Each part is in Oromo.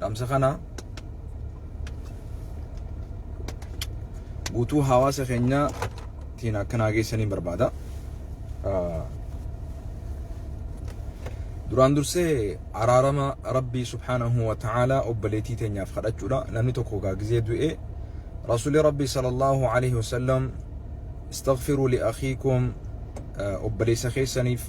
dhamsa kana guutuu hawaasa keenya tiin akkanaa geessaniin barbaada. Duraan dursee araarama Rabbii subhaanahu wa ta'aalaa obboleettii teenyaaf kadhachuudha. Namni tokko gaagizee du'ee Rasuulli Rabbii sallallahu alaihi wasallam istaghfiruu li akhiikum obboleessa keessaniif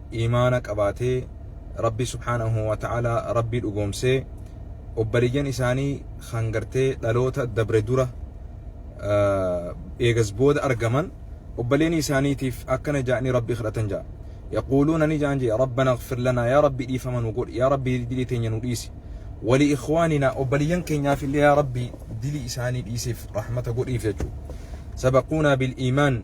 iimaana qabaatee Rabbii subhaanahu wa ta'aalaa Rabbii dhugoomsee obbaliyyan isaanii kan gartee dhaloota dabre dura eegas booda argaman obbaleenii isaaniitiif akkana ja'anii Rabbii kadhatan ja'a. Yaquuluuna ni ja'an jee Rabbana ighfir lanaa yaa Rabbii dhiifama nu godhi yaa Rabbii dilii teenya nu dhiisi. Wali ikhwaaninaa obbaliyyan keenyaaf illee yaa Rabbii dilii isaanii dhiisiif rahmata godhiif jechuu. Sabaquunaa bil iimaan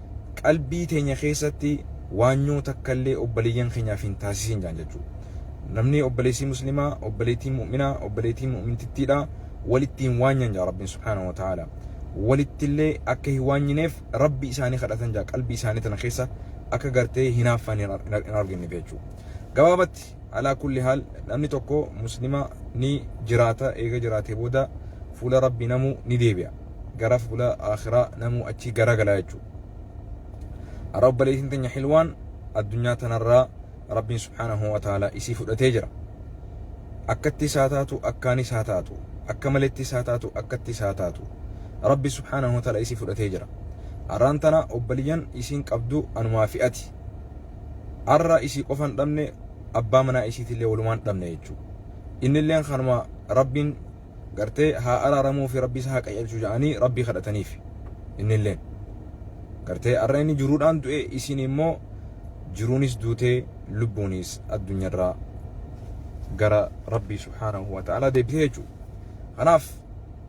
qalbii teenya keessatti waanyoo takkallee obboleeyyan keenyaaf hin taasisin jaan jechuu namni obboleessii muslimaa obboleettiin mu'minaa obboleettiin mu'mintittiidha walitti hin waanyan jaa rabbiin subhaanahu wa ta'aala walittillee akka hin waanyineef rabbi isaanii kadhatan jaa qalbii isaanii tana keessa akka gartee hinaaffaan hin arginneef jechuu gabaabatti alaa kulli haal namni tokko muslima ni jiraata eega jiraatee booda fuula rabbii namu ni deebi'a gara fuula akhiraa namu achi garagala jechuudha. Har'a obboleettiin teenya hilwaan addunyaa tanarraa rabbiin subhaanahu wa ta'ala isii fudhatee jira. Akkatti isaa taatu akkaan isaa taatu akka maletti isaa taatu akkatti isaa taatu rabbi subhaanahu wa ta'ala isii fudhatee jira. Har'aan tana obboleeyyan isiin qabdu anumaa fi'ati. arra isii qofan dhabne abbaa manaa isiitillee walumaan dhabne jechuudha. Innilleen kanuma rabbiin gartee haa araaramuu fi rabbi isa haa qayyalchu ja'anii rabbii kadhataniif innilleen. Gartee arra inni jiruudhaan du'e isiin immoo jiruunis duutee lubbuunis addunyarraa gara rabbii subhaanahu wa ta'ala deebitee jechuudha. Kanaaf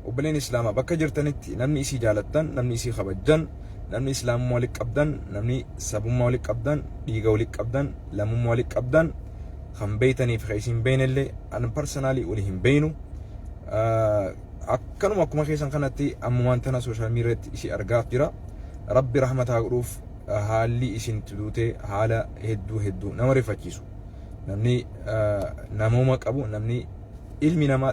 obboleen islaamaa bakka jirtanitti namni isii jaalattan namni isii kabajjan namni islaamummaa walitti qabdan namni sabummaa walitti qabdan dhiiga walitti qabdan lammummaa walitti qabdan kan beeytaniif kan isin beeynellee an parsanaalii wali hin beeynu akkanuma akkuma keessan kanatti ammumaan tana sooshaal miidiyaatti isii argaaf jira rabbi rahmataa godhuuf haalli isin tuduute haala hedduu hedduu nama rifachiisu namni namooma qabu namni ilmi namaa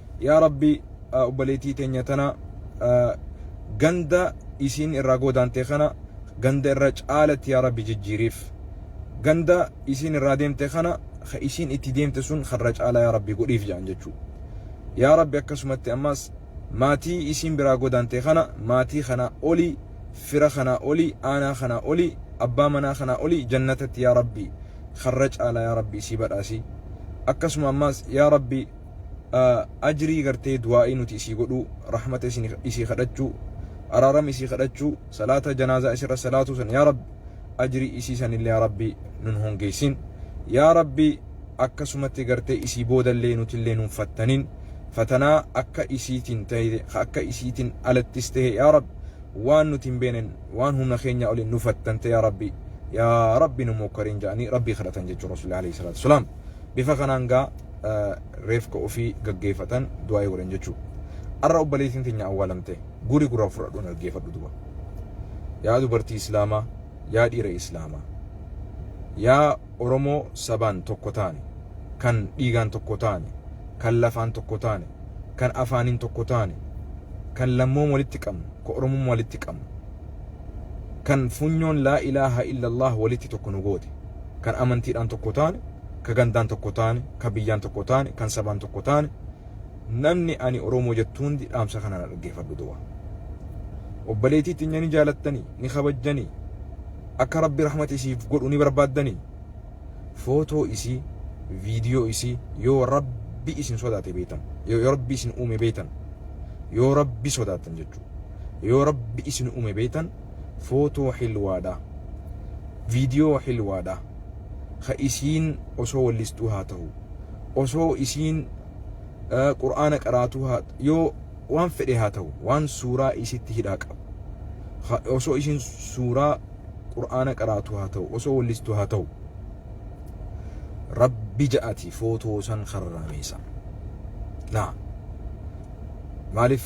Yaa Rabbi obboleettii teenya tana ganda isiin irraa goodaante kana ganda irra caalatti yaa Rabbi jijjiiriif. Ganda isiin irraa deemte kana ka isiin itti deemte sun karra caalaa yaa Rabbi godhiif jedhan jechuu. Yaa Rabbi akkasumatti ammas maatii isiin biraa goodaante kana maatii kanaa oli fira kanaa oli aanaa kanaa oli abbaa manaa kanaa oli jannatatti yaa Rabbi karra caalaa yaa Rabbi isii badhaasi. Akkasuma ammas yaa Rabbi ajrii gartee du'aa'ii nuti isii godhuu rahmata isii kadhachuu araarama isii kadhachuu salaata janaazaa isirra salaatuu san yaa rabbi ajrii isii sanillee yaa rabbi nun hongeessin yaa rabbi akkasumatti gartee isii boodallee nutillee nun fattanin fatanaa akka isiitiin ta'e akka isiitiin alattis ta'e yaa rabbi waan nuti hin beenen waan humna keenya oliin nu fattante yaa rabbi yaa rabbi nu mokkarin ja'anii rabbii kadhatan jechuun rasuulli alayhi salaatu wasalaam bifa kanaan gaa reefka ofii gaggeeffatan du'aa'ii godhan jechuudha. Har'a obboleettiin teenya awwaalamte guri guraan fudhadhuun dhaggeeffadhu duba. Yaa dubartii Islaamaa, yaa dhiira Islaamaa, yaa Oromoo sabaan tokko taane, kan dhiigaan tokko taane, kan lafaan tokko taane, kan afaaniin tokko taane, kan lammoom walitti qabnu, kan Oromummaa walitti qabnu, kan funyoon laa ilaaha illallah walitti tokko nu goote, kan amantiidhaan tokko taane, ka gandaan tokko taane, ka biyyaan tokko taane, kan sabaan tokko taane, namni ani Oromoo jettu hundi dhaamsa kana na dhaggeeffadhu du'a. Obboleetii xinya ni jaalattanii, ni kabajjanii, akka rabbi rahmata isiif godhu ni barbaaddanii, footoo isii, viidiyoo isii yoo rabbi isin sodaate beektan, yoo rabbi isin uume beektan, yoo rabbi sodaatan jechuudha. Yoo rabbi isin uume beektan footoo hilwaadha viidiyoo hilwaadha ka isiin osoo wallistuu haa tahu osoo isiin qur'aana qaraatuu haa yoo waan fedhe haa tahu waan suuraa isitti hidhaa qabu ka osoo isiin suuraa qur'aana qaraatuu haa tahu osoo wallistuu haa tahu rabbi ja'ati footoo san harraameessa naa maaliif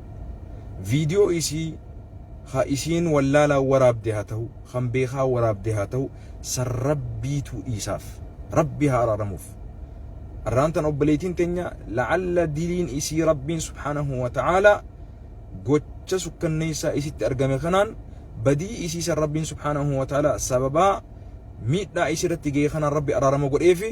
viidiyoo isii ha isiin wallaalaa waraabde haa tahu kan beekaa waraabde haa tahu san rabbiituu dhiisaaf rabbii haa araaramuuf arraan tan obboleeytiin teenya la'alla diliin isii rabbiin subhaanahu wa ta'aalaa gocha sukkanneessaa isitti argame kanaan badii isii san rabbiin subhaanahu wa ta'aalaa sababaa miidhaa isii irratti ga'e kanaan rabbi araarama godheefi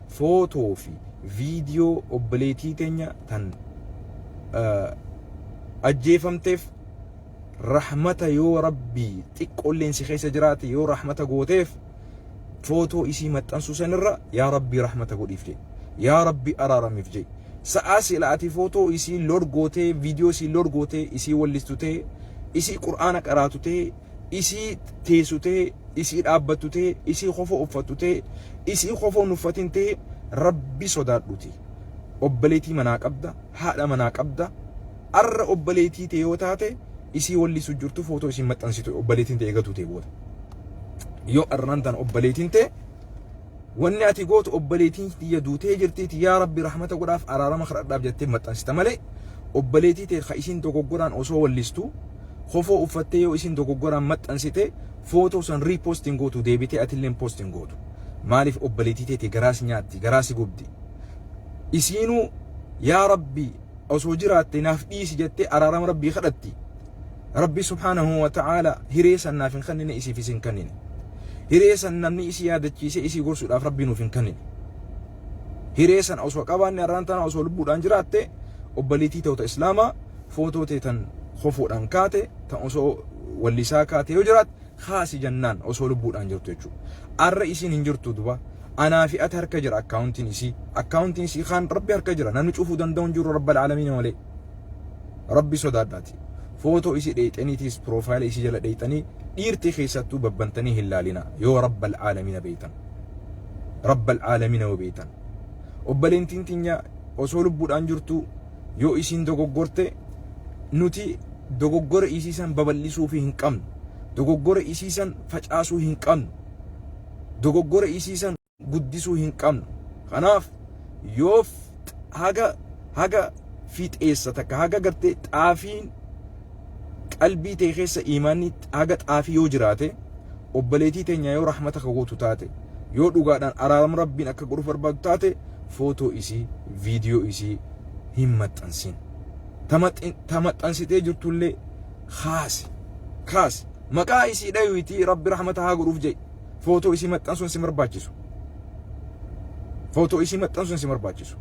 Photo fi video obboleetii tenya tan ajjeefamteef rahmata yoo rabbii xiqqoolleen si keessa jiraate yoo rahmata gooteef photo isii maxxansuu sanirra yaa rabbii rahmata godhiif jee yaa rabbii araaramiif jee sa'aa sila ati photo isii load gootee video isii load gootee isii wallistutee isii qur'aana qaraatutee isii teessu ta'e, isii dhaabbattu ta'e, isii kofoo uffattu ta'e, isii kofoo hin uffatin ta'e rabbi sodaadhuti. Obboleetii manaa qabda, haadha manaa qabda. Arra obboleetii ta'e yoo taate isii walli isu jirtu footoo isiin maxxansitu obboleetiin ta'e eegatu ta'e booda. Yoo arraan tan obboleetiin ta'e Wanni ati gootu obboleetiin tiyya duutee jirtiiti yaa rabbi rahmata godhaaf araarama kadhadhaaf jettee maxxansita malee obboleetii tee ka isiin dogoggoraan osoo wallistu kofoo uffattee yoo isiin dogoggoraan maxxansite footoo san riipost hin gootu deebitee atilleen post hin gootu maaliif obboleetii teeti garaas nyaatti garaasi gubdi isiinuu yaa rabbi osoo jiraatte naaf dhiisi jettee araarama rabbii kadhatti Rabbi subhaanahu wa ta'aala hiree san naaf hin kennine isiifis hin kennine. Hiree san namni isii yaadachiisee isii gorsuudhaaf Rabbi nuuf hin kennine. Hiree san osoo qabaanne har'aan tana osoo lubbuudhaan jiraatte obbaliitii ta'uta islaamaa footoo tee tan kofoodhaan kaate tan osoo wallisaa kaate yoo jiraat kaasi jannaan osoo lubbuudhaan jirtu jechuudha. Arra isiin hin jirtu duba anaa fi ati harka jira akkaawuntiin isii akkaawuntiin isii kaan rabbi harka jira namni cufuu danda'u hin jiru rabbal aalamiin malee. rabbi sodaadhaati footoo isi dheeyxaniitiis piroofaayila isi jala dheeyxanii dhiirti keessattuu babbantanii hin laalina yoo rabbal aalamina beeytan rabbal aalamina yoo beeytan obbaleentiin tinya osoo lubbuudhaan jirtuu yoo isiin dogoggorte nuti dogoggora isiisan babal'isuu fi hin qabnu dogoggora isiisan facaasuu hin qabnu dogoggora isiisan guddisuu hin qabnu. Kanaaf yoo haga haga fiixeessa takka haga gartee xaafiin qalbii tee keessa iimaanni haga xaafii yoo jiraate obboleetii teenya yoo rahmata ka gootu taate yoo dhugaadhaan araaram rabbiin akka godhuuf barbaadu taate footoo isii viidiyoo isii hin maxxansin. Ta maxxansitee jirtullee kaasi kaasi maqaa isii dhayuutii rabbi rahmata haa godhuuf jedhi footoo isii maxxansuun si barbaachisu. Footoo isii maxxansuun si barbaachisu.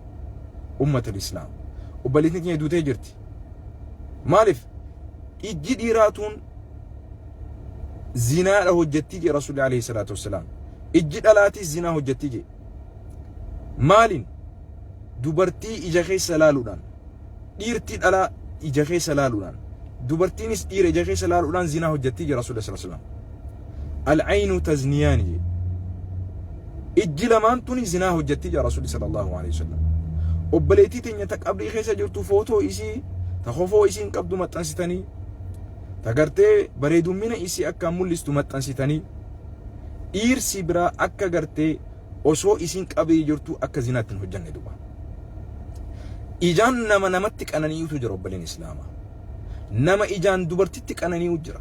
Ummata Islaam. Obboleettiin keenya duutee jirti. Maaliif? Ijji dhiiraa tuun zinaadha hojjettii jee Rasuulli alayhi salaatu wassalaam. Ijji dhalaatis zinaa hojjettii jee. Maaliin? Dubartii ija keessa laaluudhaan. Dhiirti dhalaa ija keessa laaluudhaan. Dubartiinis dhiira ija keessa laaluudhaan zinaa hojjettii jee Rasuulli sallallahu alayhi wasallam. Al-aynu tazniyaani jedhe. Ijji lamaan tuni zinaa hojjatti jedha Rasuulli sallallahu alaihi wasallam. Obboleettii teenya ta qabrii keessa jirtu footoo isii ta kofoo isiin qabdu maxxansitanii ta gartee bareedummina isii akkaan mul'istu maxxansitanii dhiirsi biraa akka gartee osoo isiin qabrii jirtu akka zinaatti hin hojjanne duba. Ijaan nama namatti qananii'utu jira obboleen Islaamaa. Nama ijaan dubartitti qananii'u jira.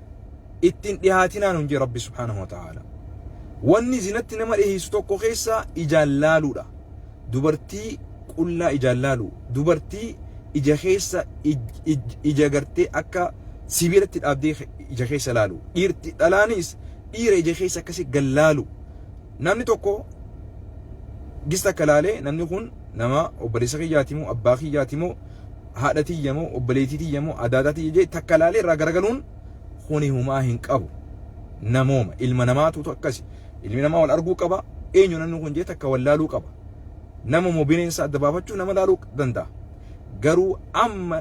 itti hin dhihaatinaa nuun jee rabbi subhaanahu wa ta'aala wanni zinatti nama dhiheessu tokko keessaa ijaan laaluudha dubartii qullaa ijaan laalu dubartii ija keessa ija gartee akka sibiilatti dhaabdee ija keessa laalu dhiirti dhalaanis dhiira ija keessa akkasi gal laalu namni tokko gista akka laalee namni kun nama obboleessa kiyyaatimoo abbaa kiyyaatimoo haadha tiyya moo obboleettii tiyya moo adaadaa tiyya jee takka laalee irraa garagaluun kuni humaa hin qabu namooma ilma namaatuutu akkasi ilmi namaa wal arguu qaba eenyu namni kun jee takka wal laaluu qaba nama moo bineensa adda baafachuu nama laaluu danda'a garuu amma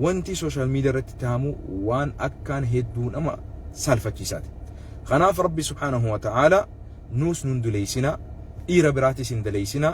wanti sooshaal miidiyaa irratti taa'amu waan akkaan hedduu nama saalfachiisaati kanaaf rabbi subhaanahu wa ta'aala nuus nun duleeysinaa dhiira biraatis hin daleeysinaa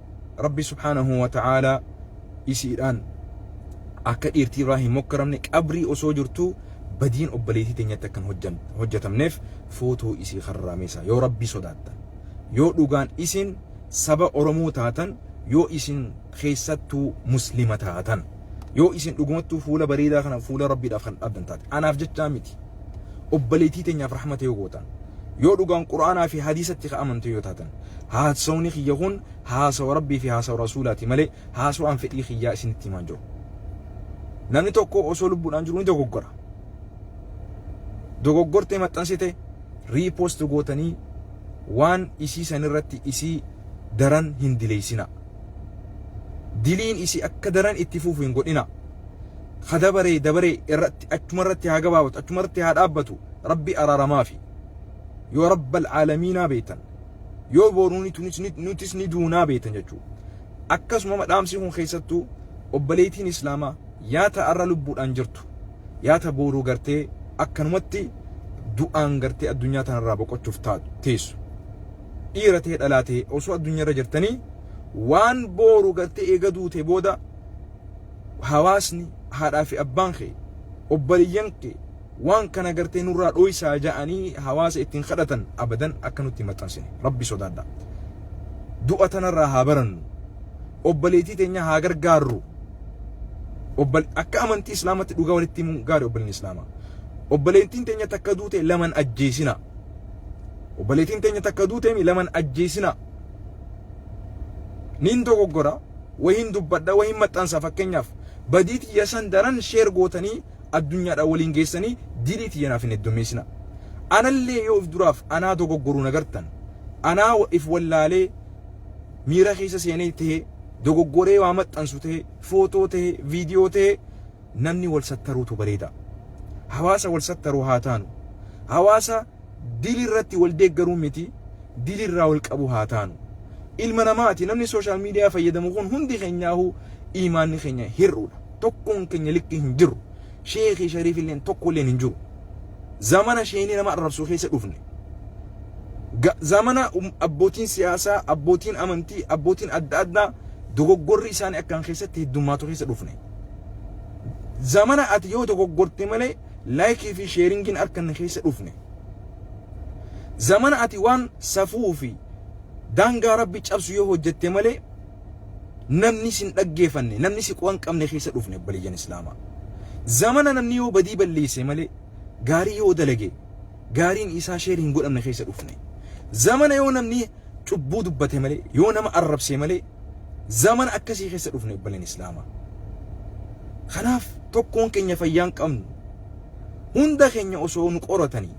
rabbi subhaanahu wa ta'aalaa isiidhaan akka dhiirtii irraa hin mokkaramne qabrii osoo jirtuu badiin obboleetii teenyatti akka hin hojjetamneef footoo isii karraamesa yoo rabbii sodaattan yoo dhugaan isin saba oromoo taatan yoo isin keessattuu muslima taatan Yoo isin dhugumattuu fuula bareedaa kana fuula Rabbiidhaaf kan dhaabdan taate. Anaaf jechaa miti. Obboleettii teenyaaf rahmata yoo gootan. Yoo dhugaan Qur'aanaa fi hadiisatti ka amantu yoo taatan. Haasawni kiyya kun haasawa Rabbii fi haasawa Rasuulaati malee haasawaan fedhii kiyyaa isinitti himaan jiru. Namni tokko osoo lubbuudhaan jiru ni dogoggora. Dogoggortee maxxansite riipoost gootanii waan isii sanirratti isii daran hin dileessinaa. Diliin isii akka daran itti fuufu hin godhina. Ka dabaree dabaree irratti achuma irratti haa gabaabatu achuma irratti haa dhaabbatu rabbi araaramaafi. Yoo rabbal aalamiinaa beektan yoo booruu nutis ni duunaa beektan jechuudha. Akkasuma dhaamsi kun keessattuu obboleettiin islaamaa yaa ta'arra lubbuudhaan jirtu yaa ta booruu gartee akkanumatti du'aan gartee addunyaa tanarraa boqochuuf teessu. dhiira ta'e dhalaa ta'e osoo addunyaarra jirtanii waan booru gartee eega duute booda hawaasni haadhaa fi abbaan kee obboleeyyan kee waan kana gartee nurraa dhooysaa ja'anii hawaasa ittiin kadhatan abadan akka nutti hin maxxansine rabbi sodaadha du'a tanarraa haa barannu obboleettii teenya haa gargaarru obbol akka amantii islaamatti dhugaa walitti himuun gaari obboleen islaamaa obboleettiin teenya takka duute laman ajjeesina obboleetiin teenya takka duuteemi laman ajjeesina niin dogoggora wahiin dubbadha wahiin maxxansa fakkeenyaaf badii tiyya san daran sheer gootanii addunyaadha waliin geessanii dilii tiyya naaf hin heddummeessina anallee yoo of duraaf anaa dogoggoruu nagartan anaa if wallaalee miira keessa seenee ta'ee dogoggoree waa maxxansu ta'ee footoo ta'ee viidiyoo ta'ee namni wal sattaruutu bareeda. Hawaasa wal sattaru haa taanu. Hawaasa dili irratti wal deeggaruu miti dili irraa wal qabu haa taanu. Ilma namaati namni sooshaal miidiyaa fayyadamu kun hundi keenyaahu iimaanni keenya hir'uudha. Tokkoon keenya likkii hin jiru. Sheekii shariif illeen tokko illeen hin jiru. Zamana sheenii nama arrabsu keessa dhufne. Ga- Zamana um- abbootiin siyaasaa, abbootiin amantii, abbootiin adda addaa dogoggorri isaanii akkaan keessatti heddummaatu keessa dhufne. zamana ati yoo dogoggorte malee laayikii fi sheeringiin harka na keessa dhufne. Zamana ati waan safuu fi daangaa rabbi cabsu yoo hojjette malee namni sin dhaggeeffanne namni si qo'an qabne keessa dhufne obboleeyyan islaamaa. Zamana namni yoo badii balleesse malee gaarii yoo dalage gaariin isaa sheer hin godhamne keessa dhufne. Zamana yoo namni cubbuu dubbate malee, yoo nama arrabsee malee, zamana akkasii keessa dhufne obboleen Islaamaa. Kanaaf tokkoon keenya fayyaan qabnu hunda keenya osoo nu qoratanii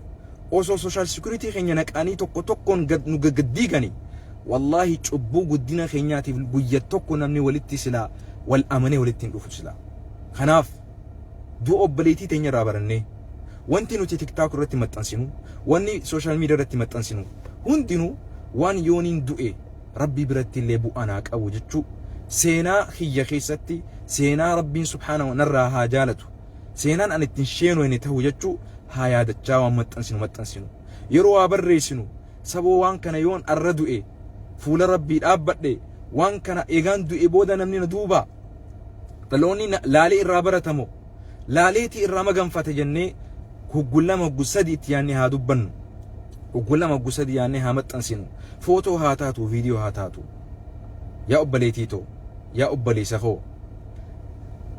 osoo sooshaal sikuritii keenya naqanii tokko tokkoon gad nu gaggaddiiganii wallaahi cubbuu guddina keenyaatiif guyya tokko namni walitti silaa wal amanee walitti hin dhufu silaa. Kanaaf du'a obboleettii teenya irraa barannee wanti nuti tiktaak irratti maxxansinu wanni sooshaal miidiyaa irratti maxxansinu hundinuu waan yooniin du'e rabbii biratti illee bu'aa naa qabu jechuu seenaa kiyya keessatti seenaa rabbiin subhaanahu narraa haa jaalatu seenaan an ittiin sheenooyne tahu jechuu haa yaadachaa waan maxxansinu maxxansinu yeroo waa barreessinu Saboo waan kana yoon arra du'e fuula rabbii dhaabbadhe waan kana eegaan du'e booda namni na duuba dhaloonni na- laalee irraa baratamo laaleetii irraa maganfata jennee hoggu lama hoggu sadi itti yaannee haa dubbannu hoggu lama hoggu sadi yaannee haa maxxansinu footoo haa taatu viidiyoo haa taatu yaa obbaleetii too yaa obbaleessa koo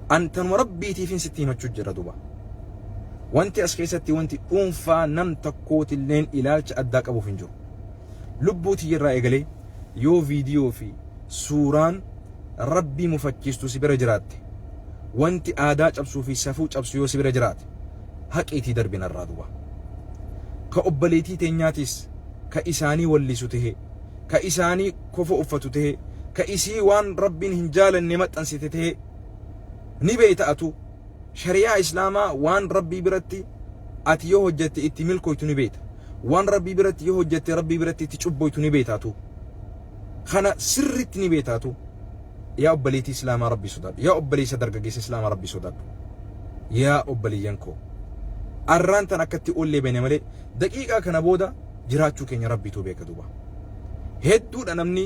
an tanuma rabbiitiifin sitti himachuu jira duba Wanti as keessatti wanti dhuunfaa nam tokkootilleen ilaalcha addaa qabuuf hin jiru. Lubbuu tiyyarraa eegalee yoo viidiyoo fi suuraan Rabbii mufachiistu si bira jiraatte, wanti aadaa cabsuu fi safuu cabsu yoo si bira jiraate, haqiitii darbi narraa duba. Ka obboleetii teenyaatiis ka isaanii wallisu tahee, ka isaanii kofoo uffatu tahee, ka isii waan Rabbiin hin jaalanne maxxansite tahee ni beeyta atuu. shari'aa islaamaa waan rabbii biratti ati yoo hojjette itti milkooytu ni beekta waan rabbii biratti yoo hojjette rabbii biratti itti cubboytu ni beektaatu kana sirritti ni beektaatu yaa obboleetii islaamaa rabbii sodaadhu yaa obboleessa dargaggeessa islaamaa rabbii sodaadhu yaa obboleeyyan koo arraan tan akkatti ollee bene malee daqiiqaa kana booda jiraachuu keenya rabbiitu beeka duuba hedduudha namni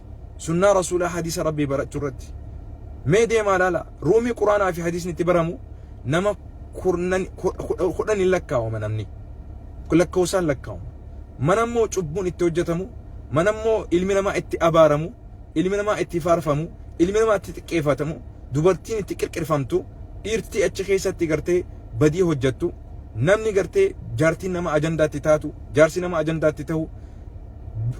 Sunnaa Rasuulaa hadiisa Rabbii barachuu irratti. Mee deemaa laala ruumii Quraanaa fi hadiisni itti baramu nama kudhan hin lakkaawama namni. Lakkoofsaan lakkaawama. Mana immoo cubbuun itti hojjetamu, mana immoo ilmi namaa itti abaaramu, ilmi namaa itti faarfamu, ilmi namaa itti xiqqeeffatamu, dubartiin itti qirqirfamtu, dhiirtii achi keessatti gartee badii hojjettu, namni gartee jaartiin nama ajandaatti taatu, jaarsi nama ajandaatti ta'u,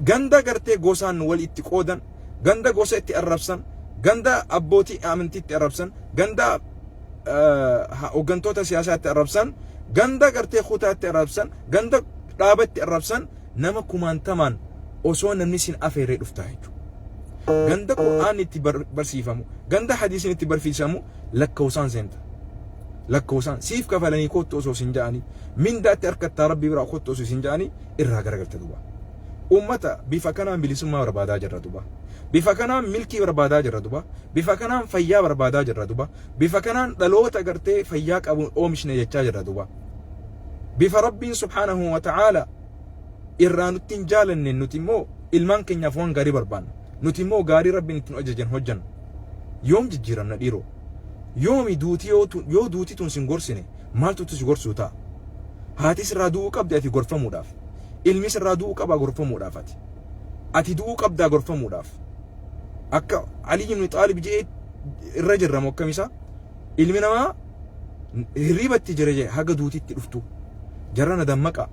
ganda gartee gosaan wal itti qoodan, ganda gosa itti arrabsan, ganda abbootii amantii itti arrabsan, ganda hooggantoota siyaasaa itti arrabsan, ganda gartee kutaa itti arrabsan, ganda dhaaba itti arrabsan nama kumaantamaan osoo namni sin afeerree dhuftaa jechuudha. Ganda Qur'aan itti barsiifamu, ganda hadiisiin itti barsiisamu lakkoofsaan seenta. Lakkoofsaan siif kafalanii kottu osoo sin ja'anii, mindaatti harkattaa rabbi biraa kottu osoo sin ja'anii irraa garagalte duba. Uummata bifa kanaan bilisummaa barbaadaa jirra duba. Bifa kanaan milkii barbaadaa jirra duba. Bifa kanaan fayyaa barbaadaa jirra duba. Bifa kanaan dhaloota gartee fayyaa qabuun oomishne jechaa jirra duba. Bifa Rabbiin subhaanahu wa ta'aala irraa nutti hin jaalanne nuti immoo ilmaan keenyaaf waan gaarii barbaanna. Nuti immoo gaarii Rabbiin ittiin hojjetan hojjenna. Yoom jijjiiramna dhiiroo? Yoomi duuti yoo duuti tun sin gorsine maaltu utuu si gorsuu ta'a? Haati sirraa du'uu qabdi ati gorfamuudhaaf. Ilmi sirraa du'uu qabaa gorfamuudhaaf ati. Ati du'uu qabdaa gorfamuudhaaf. Akka Alii ibn Xaalib je'ee irra jirra moo akkam isaa? Ilmi namaa hirriibatti jira jee haga duutitti dhuftu. Jarrana dammaqa.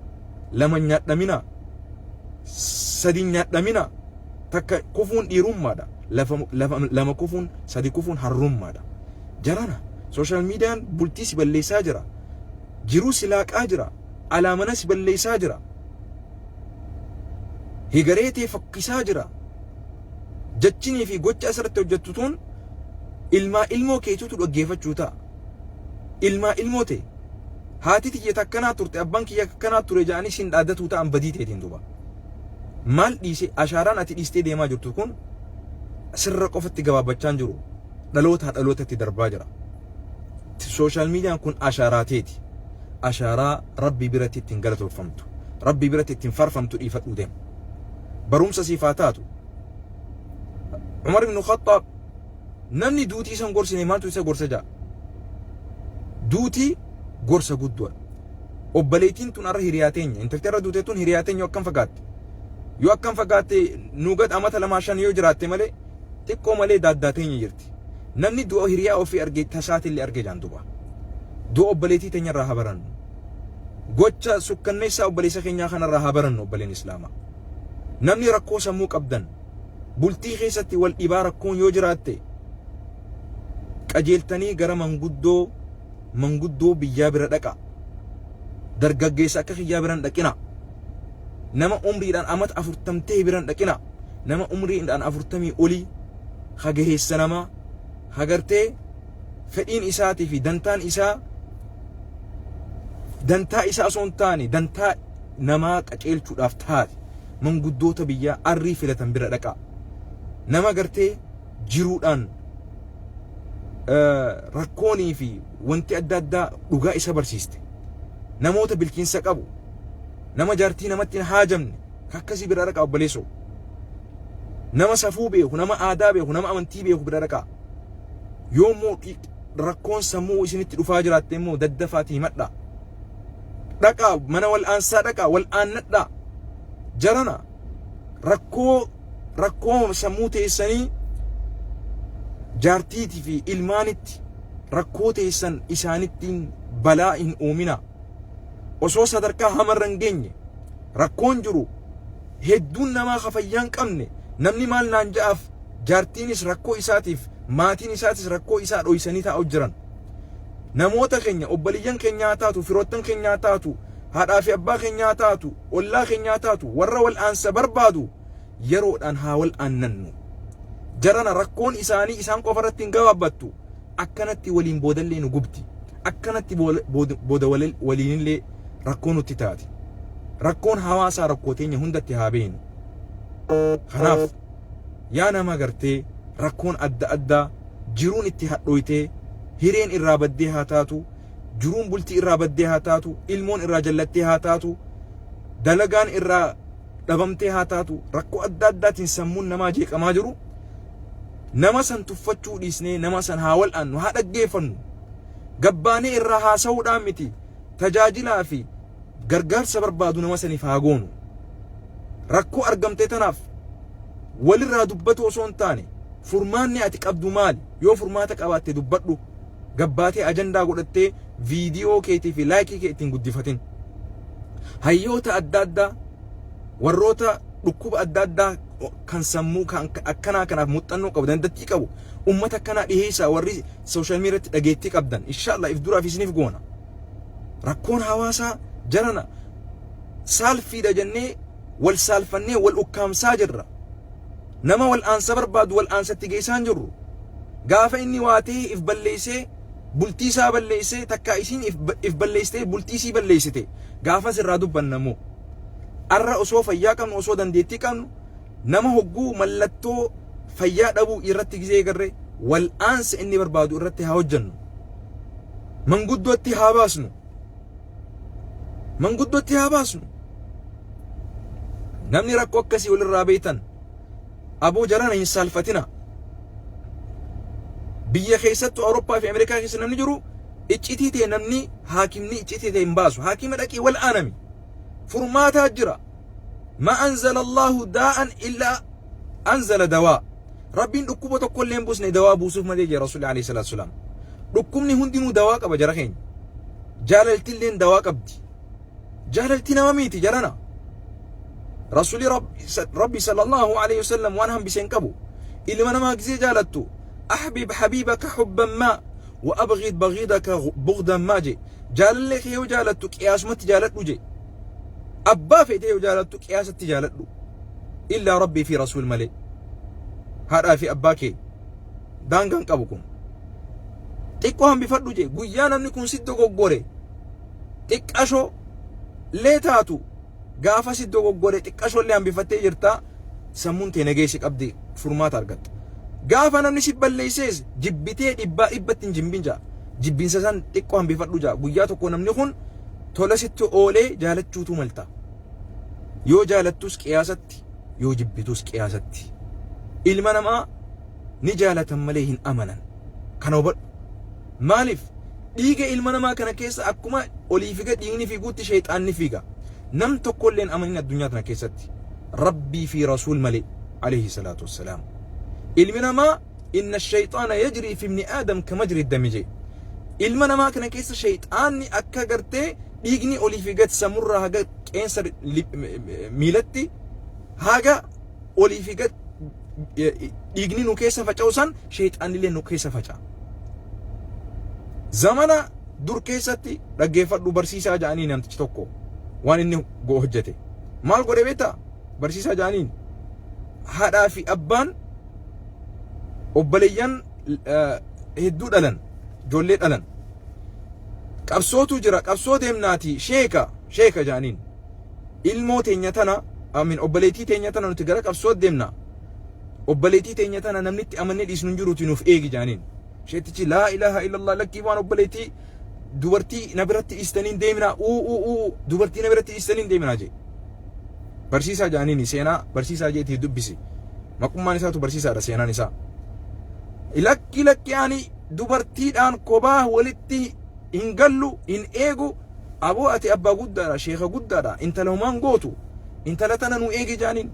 Lama nyaadhamina. Sadi nyaadhamina. Takka kufuun dhiirummaadha. Lafa, lafa, lama kufuun, sadi kufuun harrummaadha. Jarana. Social median bultii si balleessaa jira. Jiruu si laaqaa jira. Alaa mana si balleessaa jira. Hegaree tee fokkisaa jira. Jachinii fi gocha asirratti hojjettu tun ilmaa ilmoo keetutu dhaggeeffachuu ta'a. Ilmaa ilmoo tee. Haati tiyya takkanaa turte abbaan kiyya akkanaa ture ja'anii sin dhaadatuu ta'an badii teetiin duuba. Maal dhiise ashaaraan ati dhiistee deemaa jirtu kun sirra qofatti gabaabbachaan jiru. dhalootaa dhalootatti darbaa jira. Sooshaal miidiyaan kun ashaaraa teeti. Ashaaraa rabbii biratti ittiin galatoofamtu. Rabbii biratti ittiin farfamtu dhiifadhuu deema. Barumsa siif haa taatu. Umar ibn Khattaab namni duutii isan gorsine maaltu isa gorsa ja'a. Duutii gorsa guddoodha. Obboleettiin tun arra hiriyaa teenya. Intalti arra duutee tun hiriyaa teenya akkam fakkaatti. Yoo akkam fakkaatte nuugad amata lamaa shan yoo jiraatte malee xiqqoo malee daaddaa teenya jirti. Namni du'a hiriyaa ofii arge tasaatillee arge jaan duba. Du'a obboleetii teenyarraa haa barannu. Gocha sukkanneessaa obboleessa keenyaa kanarraa haa barannu obboleen Islaamaa. Namni rakkoo sammuu qabdan bultii keessatti wal dhibaa rakkoon yoo jiraatte qajeeltanii gara manguddoo manguddoo biyyaa bira dhaqaa. Dargaggeessa akka kiyyaa bira hin dhaqinaa. Nama umriidhaan amata afurtam ta'e bira hin dhaqinaa. Nama umriidhaan afurtamii olii hageheessa namaa hagartee fedhiin isaatii fi dantaan isaa dantaa isaa osoo hin taane dantaa namaa qaceelchuudhaaf taate manguddoota biyyaa arrii filatan bira dhaqaa. Nama gartee jiruudhaan rakkoonii fi wanti adda addaa dhugaa isa barsiiste. Namoota bilchinsa qabu, nama jaartii namatti hin haajamne, akkasii bira dhaqaa obboleessoo. Nama safuu beeku, nama aadaa beeku, nama amantii beeku bira dhaqaa. Yoo immoo rakkoon sammuu isinitti dhufaa jiraatte immoo daddafaatii himadhaa. Dhaqaa mana wal'aansaa dhaqaa wal'aannadhaa. Jarana rakkoo rakkooma sammuu teessanii jaartiitii fi ilmaanitti rakkoo teessan isaanittiin balaa hin uumina. Osoo sadarkaa hamarra hin geenye rakkoon jiru hedduun namaa ka fayyaa hin qabne namni maal naan ja'aaf jaartiinis rakkoo isaatiif maatiin isaatis rakkoo isaa dhoysanii taa'u jiran. Namoota keenya obboleeyyan keenyaa taatu firoottan keenyaa taatu haadhaa fi abbaa keenyaa haa taatu, ollaa keenyaa haa taatu, warra wal'aansa barbaadu yeroodhaan haa wal'aannannu. Jarana rakkoon isaanii isaan qofa irratti hin gabaabbattu. Akkanatti waliin boodallee nu gubdi. Akkanatti booda waliinillee rakkoo nutti taati. Rakkoon hawaasaa rakkoo teenya hundatti haa beenu. Kanaaf yaa nama gartee rakkoon adda addaa jiruun itti hadhooytee hireen irraa baddee haa taatu jiruun bultii irraa baddee haa taatu, ilmoon irraa jallattee haa taatu, dalagaan irraa dhabamtee haa taatu, rakkoo adda addaatiin sammuun namaa jeeqamaa jiru nama san tuffachuu dhiisnee nama san haa wal'aannu, haa dhaggeeffannu. Gabbaanee irraa haasa'uudhaan miti tajaajilaa fi gargaarsa barbaadu nama saniif haa goonu. Rakkoo argamtee tanaaf walirraa dubbatu osoo hin taane furmaanni ati qabdu maali? Yoo furmaata qabaatte dubbadhu. Gabbaatee ajandaa godhattee viidiyoo keetii fi laayikii kee ittiin guddifatin. Hayyoota adda addaa warroota dhukkuba adda addaa kan sammuu kan akkanaa kanaaf muuxannoo qabu dandeettii qabu uummata akkanaa dhiheessaa warri sooshaal miidiyaatti dhageettii qabdan inshaallah if duraaf isiniif goona. Rakkoon hawaasaa jarana saalfiidha jennee wal saalfannee wal ukkaamsaa jirra. Nama wal aansa barbaadu wal aansatti geessaan jirru. Gaafa inni waa ta'ee if balleessee bultii isaa balleessee takkaa isiin if, if balleessitee bultii isii balleessite gaafas irraa dubbanna immoo. Arra osoo fayyaa qabnu osoo dandeettii qabnu Nama hogguu mallattoo fayyaa dhabuu irratti gizee garre wal'aansa inni barbaadu irratti haa hojjennu. Manguddootti haa baasnu. Manguddootti haa baasnu. Namni rakkoo akkasii walirraa beektan aboo jarana hin saalfatina. Biyya keessattuu Awurooppaa fi Ameerikaa keessa namni jiru iccitii ta'e namni haakimni iccitii ta'e hin baasu. Haakima dhaqii wal'aanami. furmaataa jira ma anzala allahu daa'an illaa anzala dawaa rabbiin dhukkuba tokko illee hin busne dawaa buusuuf malee jira rasuulli alayhi salaatu salaam dhukkubni hundinuu dawaa qaba jara keenya jaalalti illeen dawaa qabdi jaalalti nama miiti jarana rasuulli rabbi sallallahu alayhi wasallam waan hambise hin qabu ilma namaa gisee jaalattu ahbib habiibaka hubban maa Wa abghid baghidaka bughdan ma je. Jaalallee kee yoo jaalattu qiyaasumatti jaaladhu je. Abbaa feetee yoo jaalattu qiyaasatti jaaladhu. Illaa Rabbii fi Rasuul malee. Haadhaa fi abbaa kee daangaan qabu kun. Xiqqoo hambifadhu je. Guyyaa namni kun si dogoggore xiqqashoo lee taatu Gaafasi dogoggore xiqqashoollee hambifattee jirta, sammuun tee nageessi qabdi, furmaata argatta. Gaafa namni si balleessees jibbitee dhibbaa dhibbatti hin jimbin ja'a. Jibbinsa san xiqqoo hambifadhu ja'a. Guyyaa tokko namni kun tola sitti oolee jaalachuutu malta. Yoo jaalattus qiyaasatti, yoo jibbituus qiyaasatti. Ilma namaa ni jaalatan malee hin amanan. Kana hubadhu. Maaliif? Dhiiga ilma namaa kana keessa akkuma olii figa dhiigni fiiguutti sheexaanni fiiga. Nam tokkolleen amanin addunyaa tana keessatti. Rabbii fi Rasuul malee. Alayhi salaatu wassalaam. Ilmi namaa inna shayxaana yajrii fi ibni aadam ka majri dami jee. Ilma namaa kana keessa sheexaanni akka gartee dhiigni olii fi gad samurraa haga qeensa miilatti haga olii fi gad dhiigni nu keessa faca'u san sheexaanillee nu keessa faca'a. Zamana dur keessatti dhaggeeffadhu barsiisaa ja'anii namtichi tokko waan inni go hojjete. Maal godhe beektaa? Barsiisaa ja'aniin haadhaa fi abbaan obboleeyyan hedduu dhalan ijoollee dhalan qabsootu jira qabsoo deemnaati sheeka sheeka ja'aniin. ilmoo teenya tana amin obboleetii teenya tana nuti gara qabsoo deemna obboleetii teenya tana namni itti amannee dhiisnu hin jiruuti nuuf eegi jaaniin sheetichi laa ilaaha illallah lakkii waan obboleetii dubartii na biratti dhiistaniin deeminaa uu uu uu dubartii na biratti dhiistaniin deeminaa jee barsiisaa jaaniin seenaa barsiisaa jeetii dubbisi maqummaan isaatu barsiisaadha seenaan isaa lakki lakki ani dubartiidhaan kobaa walitti hin gallu hin eegu Aboo ati abbaa guddaadha, sheeka guddaadha, intala homaa hin gootu, intala tana nu eegi jaaniin.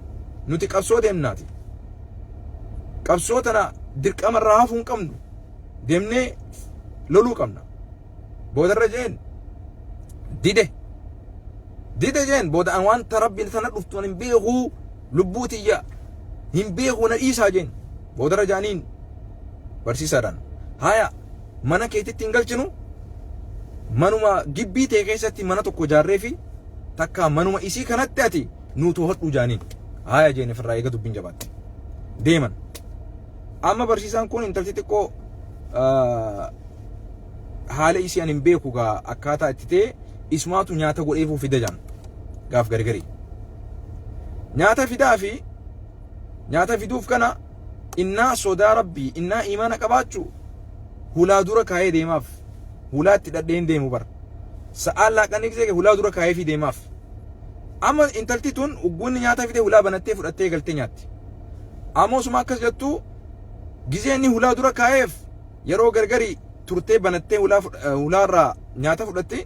Nuti qabsoo deemnaati. Qabsoo tana dirqama irraa hafuu hin qabnu. Deemnee loluu qabna. Boodarra jeen dide. Dide jeen booda an wanta rabbiin tana dhuftu an hin beekuu lubbuu tiyya hin beekuu na dhiisaa jeen. Boodarra jaaniin barsiisaadhaan. Haya mana keetitti hin galchinu manuma gibbii ta'e keessatti mana tokko ijaarree fi takka manuma isii kanatti ati nuu to'adhu jaaniin haaya jeene firraa eega dubbiin jabaatte deeman amma barsiisaan kun intalti xiqqoo haala isii an hin beeku gaa akkaataa itti ta'e isumaatu nyaata godheefuu fida jaan gaaf gargarii nyaata fidaa fi nyaata fiduuf kana innaa sodaa rabbii innaa iimaana qabaachu hulaa dura kaayee deemaaf hulaa itti dhadhee hin deemu bar sa'aan laaqanni gisee kee hulaa dura kaayee fi deemaaf amma intalti tun ugguunni nyaata fidee hulaa banattee fudhattee galtee nyaatti ammoo suma akkas jettu gisee inni hulaa dura kaayeef yeroo gargari turtee banattee hulaa fud- eh, hulaarraa nyaata fudhattee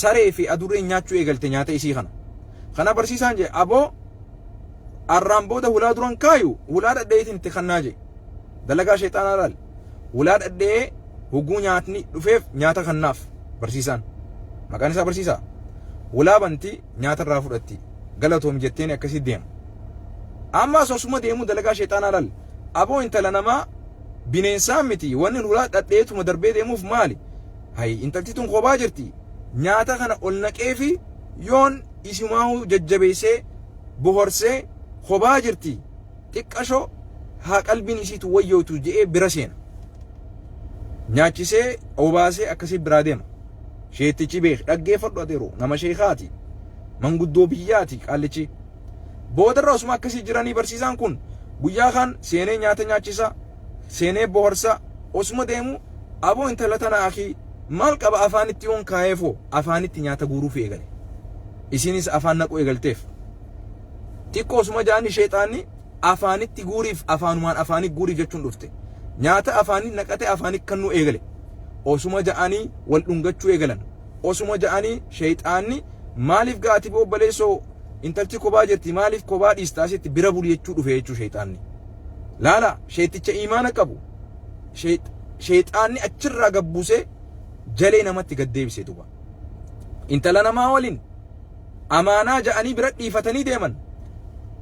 saree fi adurreen nyaachuu eegalte nyaata isii kana kana barsiisaan jee aboo arraan booda hulaa duran kaayu hulaa dhadheetiin itti kannaa jee dalagaa sheexaanaa laal hulaa dhadhee huguu nyaatni dhufeef nyaata kannaaf barsiisaan maqaan isaa barsiisaa hulaa banti nyaata irraa fudhatti galatoomi jetteen akkasii deema ammaas osuma deemuu dalagaa sheexaanaa laal aboo intala namaa bineensaa miti wanni hulaa dhadheetuma darbee deemuuf maali hayi intalti tun kophaa jirti nyaata kana ol naqee fi yoon isimaahuu jajjabeessee bohorsee kobaa jirti xiqqasho haa qalbiin isiitu wayyootu je'ee bira seena. Nyaachisee obaasee akkasii biraa deema. Sheettichi beek dhaggeeffadhu adeeru nama sheekaati. Manguddoo biyyaati qaallichi. Boodarra osuma akkasii jiranii barsiisaan kun guyyaa kaan seenee nyaata nyaachisa. seenee boharsaa osuma deemu aboo intala tana akii maal qaba afaanitti yoon kaayeefoo afaanitti nyaata guuruufi eegale isiinis afaan naquu eegalteef xiqqoo osuma jaanni sheexaanni afaanitti guuriif afaanumaan afaanii guuriif jechuun dhufte nyaata afaanii naqate afaanii kannuu eegale osuma ja'anii wal dhungachuu eegalan osuma ja'anii sheyxaanni maaliif gaa ati obboleessoo intalchi kobaa jirti maaliif kobaa dhiista asitti bira buli jechuu dhufe jechuu sheyxaanni laala sheyxicha iimaana qabu sheyxaanni achirraa gabbusee jalee namatti gad deebise duba intala namaa waliin amaanaa ja'anii bira dhiifatanii deeman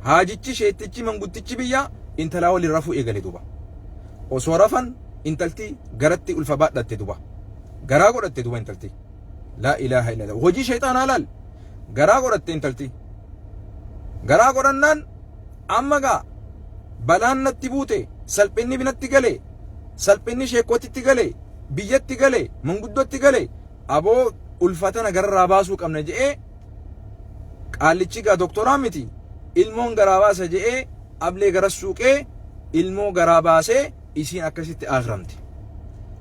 haajichi sheyxichi manguddichi biyyaa intalaa waliin rafuu eegale duba osoo rafan intalti garatti ulfa baadhatte duba garaa godhatte duba intalti laa ilaaha illa hojii shayxaanaa laal garaa godhatte intalti garaa godhannaan amma gaa balaan natti buute salphinni binatti gale salphinni sheekootitti gale biyyatti gale manguddootti gale aboo ulfatana gararraa baasuu qabna je'ee qaallichi gaa doktoraa miti ilmoon garaa baasa je'ee ablee garas suuqee ilmoo garaa baasee isiin akkasitti aakramte.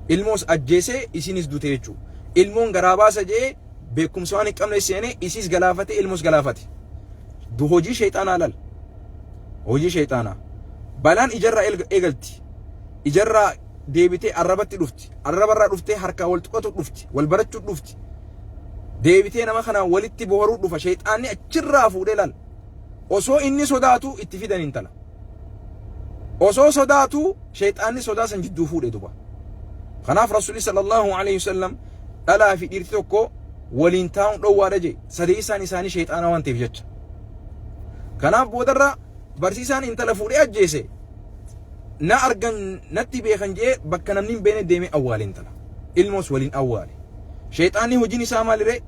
Ilmoos ajjeesee isiinis dute jechuu. Ilmoon garaa baasa jee beekumsa waan hin qabne seenee isiis galaafate ilmoos galaafate. Du hojii sheexaanaa lal. Hojii sheexaanaa. Balaan ijarraa eelga- eegalti. Ijarraa deebitee arrabatti dhufti. Arrabarraa dhuftee harkaa wal tuqatu dhufti. Wal barachuu dhufti. Deebitee nama kanaan walitti boharuu dhufa. Sheexaanni achirraa fuudhee lal. osoo inni sodaatuu itti fidan intala. Osoo sodaatuu sheexaanni sodaa san jidduu fuudhe duba. Kanaaf Rasuulli sallallahu alaihi wasallam dhalaa fi dhiirti tokko waliin taa'uun dhowwaadha jee sadeessaan isaanii sheexaana waan ta'eef jecha. Kanaaf boodarra barsiisaan intala fuudhee ajjeese na argan natti beekan jee bakka namni hin beekne deemee awwaale intala. Ilmoos waliin awwaale. Sheexaanni hojiin isaa maaliree?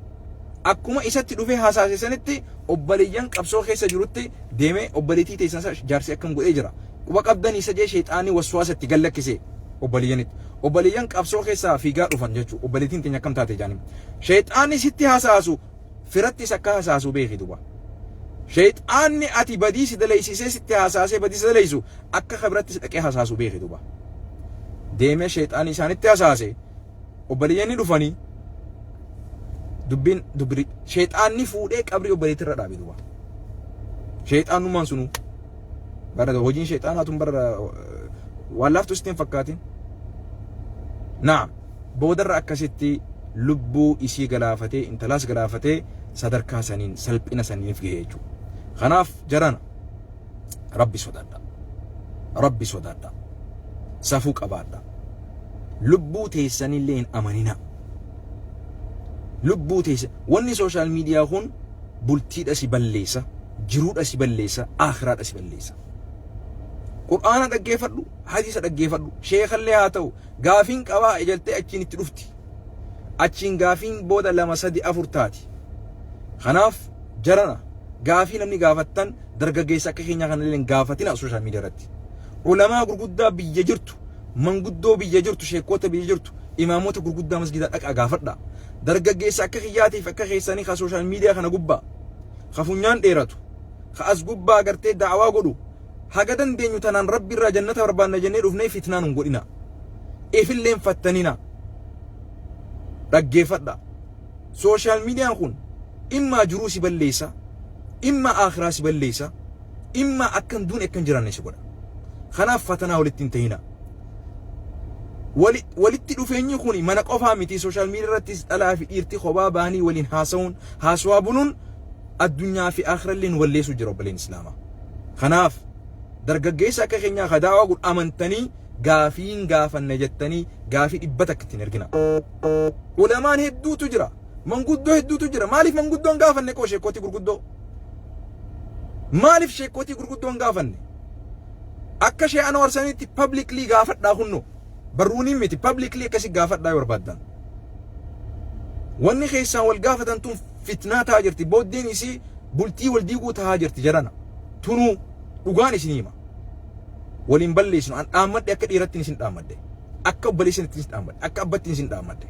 Akkuma isatti dhufee hasaase sanitti obbaleyyan qabsoo keessa jirutti deeme obbaletii teessan sa jaarsi akkan godhee jira. Quba qabdanii sa jee sheexaanni waswaasa itti gad lakkise obbaleyyanitti. Obbaleyyan qabsoo keessaa fiigaa dhufan jechu obbaletiin teenya akkam taate jaani. Sheexaanni sitti hasaasu firattis akka hasaasu beeki duba. Sheexaanni ati badii si daleysisee sitti hasaasee badii si daleysu akka ka birattis dhaqee hasaasu beeki duba. Deemee sheexaanni isaanitti hasaase obboleeyyanni dhufanii dubbiin dubbi sheexaanni fuudhee qabrii obboleetti irra dhaabe duuba. Sheexaanummaan sunuu bara hojiin sheexaanaa tun bara waan laaftu sitti hin fakkaatin. Naam boodarra akkasitti lubbuu isii galaafatee intalaas galaafatee sadarkaa saniin salphina saniif gahee jechuudha. Kanaaf jarana rabbi sodaadha rabbi sodaadha safuu qabaadha lubbuu teessanillee hin amanina lubbuu teessa wanni sooshaal miidiyaa kun bultiidha si balleessa jiruudha si balleessa aakhiraadha si balleessa qur'aana dhaggeeffadhu hadiisa dhaggeeffadhu sheekallee haa ta'u gaafiin qabaa ejaltee achiin itti dhufti achiin gaafiin booda lama sadi afur taati kanaaf jarana gaafii namni gaafattan dargaggeessa akka keenyaa kana illee gaafatina social media irratti. Ulamaa gurguddaa biyya jirtu, manguddoo biyya jirtu, sheekkoota biyya jirtu, imaamota gurguddaa masgidaa dhaqaa gaafadha. Dargaggeessa akka kiyyaatiif akka keessanii ka social media kana gubbaa ka funyaan dheeratu ka as gubbaa agartee da'awaa godhu haga dandeenyu tanaan rabbi irraa jannata barbaanna jennee dhufnee fitnaa nun godhina. Ifilleen fattanina. Dhaggeeffadha. Social media kun immaa jiruu si balleessa, immaa aakhiraa si balleessa, immaa akka hin duune akka hin jiraanne si godha. Kanaaf fatanaa walitti hin ta'inaa. Wali- Walitti dhufeenyi kun mana qofaa miti sooshaal miidiyaa irrattis dhalaa fi dhiirti kophaa ba'anii waliin haasa'uun haasawaa buluun addunyaa fi aakhirallee nu balleessuu jira obboleen Islaamaa. Kanaaf dargaggeessa akka keenyaa ka daawaa godhu amantanii gaafiin gaafanne jettanii gaafii dhibba takka ittiin ergina. Ulamaan hedduutu jira. Manguddoo hedduutu jira. Maaliif manguddoon gaafanne qoo sheekkootii gurguddoo? Maaliif sheekkootii gurguddoon gaafanne? Akka shee Anwaar sanitti publicly gaafadhaa kunno. Barruuniin miti publicly akkasi gaafadhaa yoo barbaaddan. Wanni keessaan wal gaafatan tun fitnaa tahaa jirti. Booddeen isii bultii wal diiguu tahaa jirti jarana. Tunuu dhugaan isin hima. Waliin balleessinu. An dhaammadhe akka dhiirattiin isin dhaammadhe. akka obboleessanitti isin dhaammadhe akka abbatti isin dhaammadhe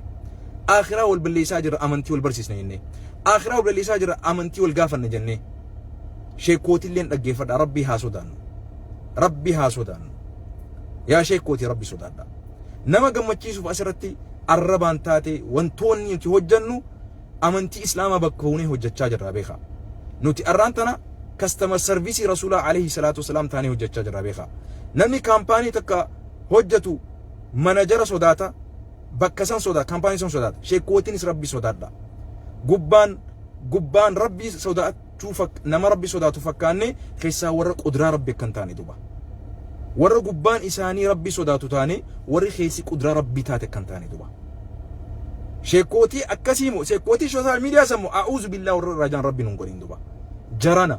akhiraa wal balleessaa jirra amantii wal barsiisna jennee akhiraa wal balleessaa jirra amantii wal gaafanna jennee sheekootilleen dhaggeeffadha rabbii haa sodaannu rabbii haa sodaannu yaa sheekootii rabbi sodaadha nama gammachiisuuf asirratti arrabaan taate wantoonni nuti hojjannu amantii islaamaa bakka buunee hojjachaa jirra beekaa nuti arraan tana kastamer sarviisii rasuulaa alayhi salaatu wasalaam taanee hojjachaa jirra beekaa namni kaampaanii takka hojjatu manajara sodaata bakka san sodaata kaampaanii san sodaata sheekootinis rabbi sodaadha gubbaan gubbaan rabbi sodaachuu nama rabbi sodaatu fakkaanne keessaa warra qudraa rabbi akka hin taane duba warra gubbaan isaanii rabbi sodaatu taane warri keessi qudraa rabbi taate akka hin taane duba sheekootii akkasii moo sheekootii sooshaal miidiyaa san moo a'uuzu billaa warra rajaan rabbi nun godhin duba jarana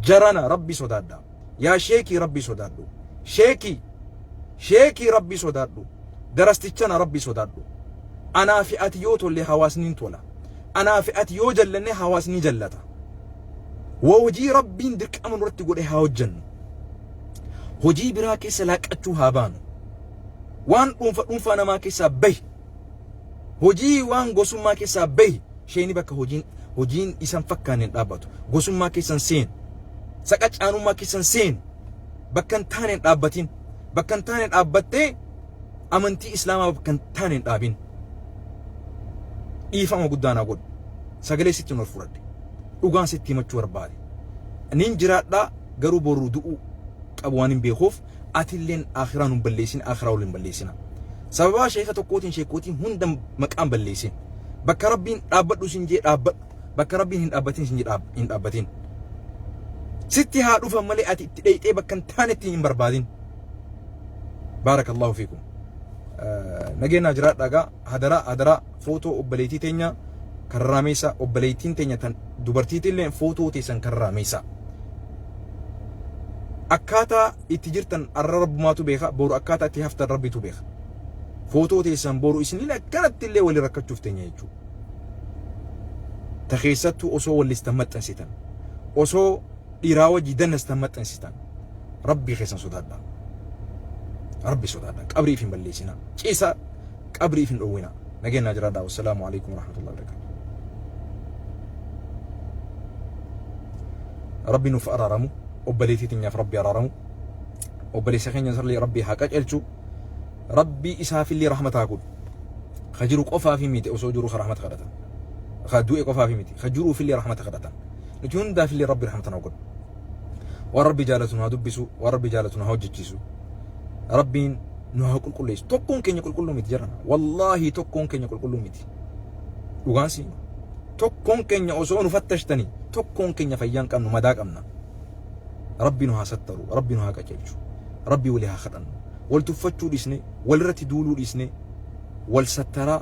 jarana rabbi sodaadha Yaa sheekii rabbii sodaadhu. Sheekii. Sheekii rabbii sodaadhu. Darastichana rabbii sodaadhu. Anaa fi ati yoo tolle hawaasni hin tola. Anaa fi ati yoo jallanne hawaasni jallata. Waa hojii rabbiin dirqama nurratti godhe haa hojjennu. Hojii biraa keessa laaqqachuu haa baanu. Waan dhuunfa dhuunfaa namaa keessaa bahi. Hojii waan gosummaa keessaa bahi. Sheeni bakka hojiin hojiin isan fakkaanne hin dhaabbatu. Gosummaa keessan seeni. Saqacaanummaa keessan seeni. Bakka hin taane hin dhaabbatin. Bakka hin taane dhaabbattee amantii Islaamaa bakka hin taane hin dhaabin. Dhiifama guddaa naa godhu. Sagalee sitti hin ol fudhadhe. Dhugaan sitti himachuu barbaade. Nin jiraadhaa garuu boru du'uu qabu waan hin beekuuf atilleen akhiraa nun balleessin akhiraa waliin balleessina sababaa sheeka tokkootiin sheekootiin hunda maqaan balleessin bakka rabbiin dhaabbadhu sin jee dhaabbadhu bakka rabbiin hin dhaabbatin sin jee dhaab- hin dhaabbatin sitti haa dhufan malee ati itti dheeyxee bakka hin taanetti hin barbaadin baarakallahu fiikum nageenyaa jiraadhaa gaa hadaraa hadaraa footoo obbaleetii teenya kan raameessaa obbaleettiin teenya tan dubartiitillee footoo teessan kan raameessaa. Akkaataa itti jirtan arra rabbumaatu beeka boru akkaataa itti haftan rabbitu beeka. Footoo teessan boru isiniin akkanatti illee wali rakkachuuf teenya jechuudha. Ta keessattuu osoo wallistan maxxansitan osoo dhiiraa wajji dannastan maxxansitan rabbii keessan sodaadha rabbi sodaadha qabrii ifin balleessinaa ciisa qabrii ifin dhowwina nageenyaa jiraadha wassalaamu alaikum warahmatullahi wabarakatuh rabbi nuuf araaramu obboleetii teenyaaf rabbi araaramu obboleessa keenya sarlee rabbi haa qacelchu rabbi isaafillee rahmataa godhu ka jiru qofaa fi miti osoo jiru ka rahmata kadhatan ka du'e qofaa fi miti ka jiruufillee rahmata kadhatan Nuti hundaaf illee Rabbi rahmata nuu godhu. Waan Rabbi jaalatu nu haa dubbisu, waan Rabbi jaalatu nu haa hojjechiisu. Rabbiin nu haa qulqulleessu. Tokkoon keenya qulqulluu miti jedhan. Wallaahi tokkoon keenya qulqulluu miti. Dhugaan siin tokkoon keenya osoo nu fattashtanii tokkoon keenya fayyaan qabnu madaa qabna. Rabbi nu haa sattaru, Rabbi nu haa qajeelchu, Rabbi walii haa kadhannu. Wal tuffachuu dhiisne, walirratti duuluu dhiisne, wal sattaraa